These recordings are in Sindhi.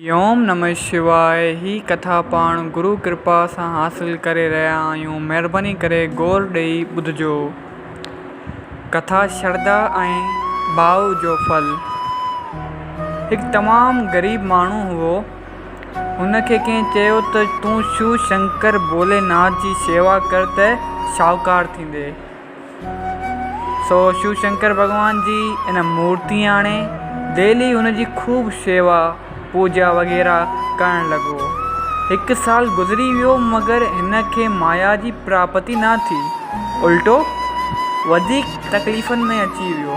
اوم نمه شواء هي ڪٿا پاڻ گرو ڪرپا سان حاصل ڪري رهيا آهيون مهرباني ڪري غور ڏئي ٻڌجو ڪٿا شرڌا ۽ ڀاء جو ڦل هڪ تمام غريب ماڻهو هئو هن کي ڪنهن چيو ته تون شو شنڪر ڀولي ناٿ جي شيوا ڪر ته شاهوڪار ٿيندي سو شو شنڪر ڀڳوان جي ان مورتي آڻي ديلي ان جي خوب شيوا پوڄا وغيره ڪرڻ لڳو. هڪ سال گذري ويو مگر هن کي مايا جي پراپتي نه ٿي الٽو وڌيڪ تڪليفن ۾ اچي ويو.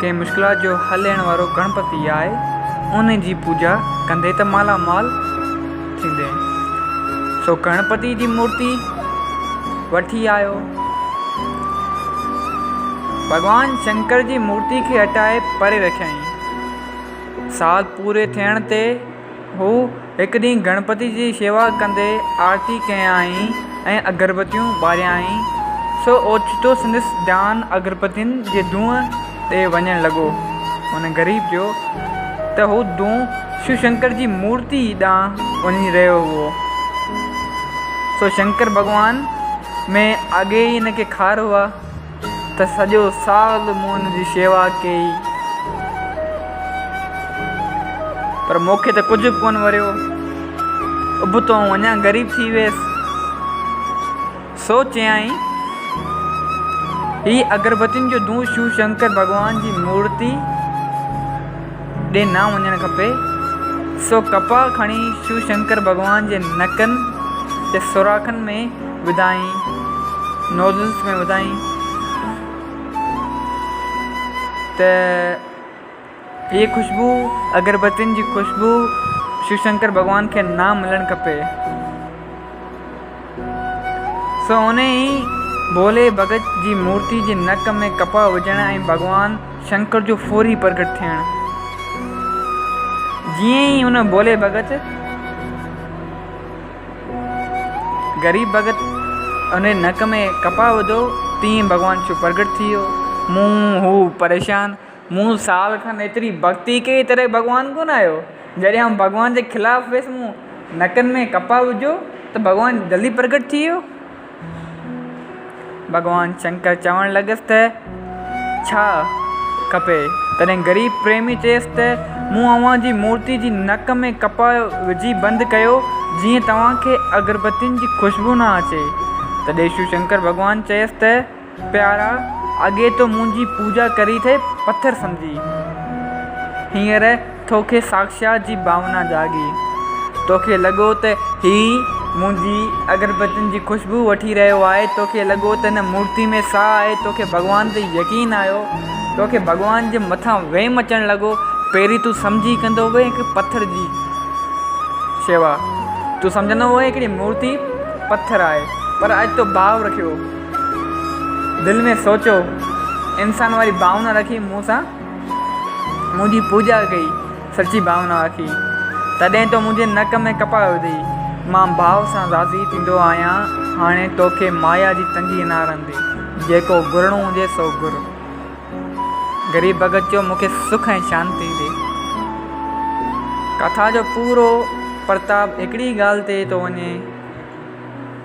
ڪنهن مشڪلات جو حل ڏيڻ وارو گڻپتي آهي ان جي پوڄا ڪندي ته مالا مال ٿيندي سو گڻپتي جي مورتي وٺي آيو ڀڳوان شنڪر جي مورتي کي هٽائي پري رکيائين سال پوري ٿيڻ تي هو هڪ ڏينهن گڻپتي جي شيوا ڪندي آرتي ڪيائين ۽ اگربتيون ٻاريائين، سو اوچتو سندس ڌيان اگربتين جي دونهن ڏي وڃڻ لڳو. هن غريب چيو ته هو دونهن شو شنڪر جي مورتي ڏانهن وڃي رهيو هئو، سو شنڪر ڀڳوان ۾ اڳي ئي هن کي خار هئا. ته سڄو سال مون ان جي شيوا ڪئي، پر مون کي ته ڪجهه به ڪونه وريو. ابتو آئون اڃا غريب ٿي ويس. سو چيائين، هي اگربتين جو دون شو شنڪر ڀڳوان جي مورتي ڏي نه وڃڻ کپي. سو ڪپاهه کڻي شو شنڪر ڀڳوان جي نڪن جي سوراخن ۾ وڌائين نوزلس ۾ وڌائين ته هيء خوشبو اگربتين جي خوشبو شو شنڪر ڀڳوان کي نه ملڻ کپي سو انهي ئي ڀولي ڀڳت جي مورتي جي نڪ ۾ ڪپهه وجهڻ ۽ ڀڳوان شنڪر جو فوري پرگهٽ ٿيڻ جيئن ئي ان ڀولي ڀڳت غريب ڀڳت ان جي نڪ ۾ ڪپاهه وڌو، تيئن ئي ڀڳوان شو پرڳٽ ٿي ويو. مون هو پريشان، مون سال کن ايتري ڀڳتي ڪئي تڏهن به ڀڳوان ڪونه آيو. جڏهن آئون ڀڳوان جي خلاف ويس، مون نڪن ۾ ڪپاهه وجهيو ته ڀڳوان جلدي پرڳٽ ٿي ويو. ڀڳوان شنڪر چوڻ لڳس ته، ڇا کپي؟ تڏهن غريب پريمي چيس ته، مون اوهان جي مورتي جي نڪ ۾ ڪپهه وجهي بند ڪيو، جيئن توهان کي اگربتين جي خوشبو نه اچي. تڏهن شو شنڪر ڀڳوان چيس ته، پيارا! اڳي تو منهنجي پوڄا ڪري ٿي پٿر سمجهي، هينئر توکي ساکشات جي ڀاونا جاڳي، توکي لڳو ته هي منهنجي اگربتين جي خوشبوء وٺي رهيو آهي، توکي لڳو ته هن مورتي ۾ ساهه آهي، توکي ڀڳوان تي يقين آيو، توکي ڀڳوان جي مٿان ويم اچڻ لڳو، پهرين تون سمجهي ڪندو هئين هڪ پٿر جي شيوا، تون سمجهندو هئين هڪڙي مورتي پٿر آهي، پر اڄ تو ڀاء رکيو. دل ۾ سوچيو، انسان واري ڀاونا رکي مون سان منهنجي پوڄا ڪئي، سچي ڀاونا رکي، تڏهن تو منهنجي نڪ ۾ ڪپاء وڌي، مان ڀاء سان راضي ٿيندو آهيان، هاڻي توکي مايا جي تنگي نه رهندي، جيڪو گهرڻو هجي سو گهر. غريب ڀڳت چيو، مون کي سک ۽ شانتي ڏي. ڪٿا جو پورو پرتاب هڪڙي ئي ڳالهه تي ٿو وڃي.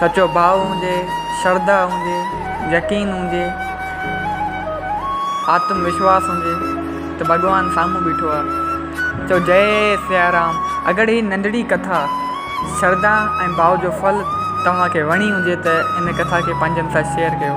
سچو ڀاء هجي، شرڌا هجي، يقين هجي، آتم وشواس هجي ته ڀڳوان سامهون بيٺو آهي. چئو جئي سيارام. اگر هي ننڍڙي ڪٿا شرڌا ۽ ڀاء جو ڦل توهان کي وڻي هجي ته هن ڪٿا کي پنهنجن سان شيئر ڪيو.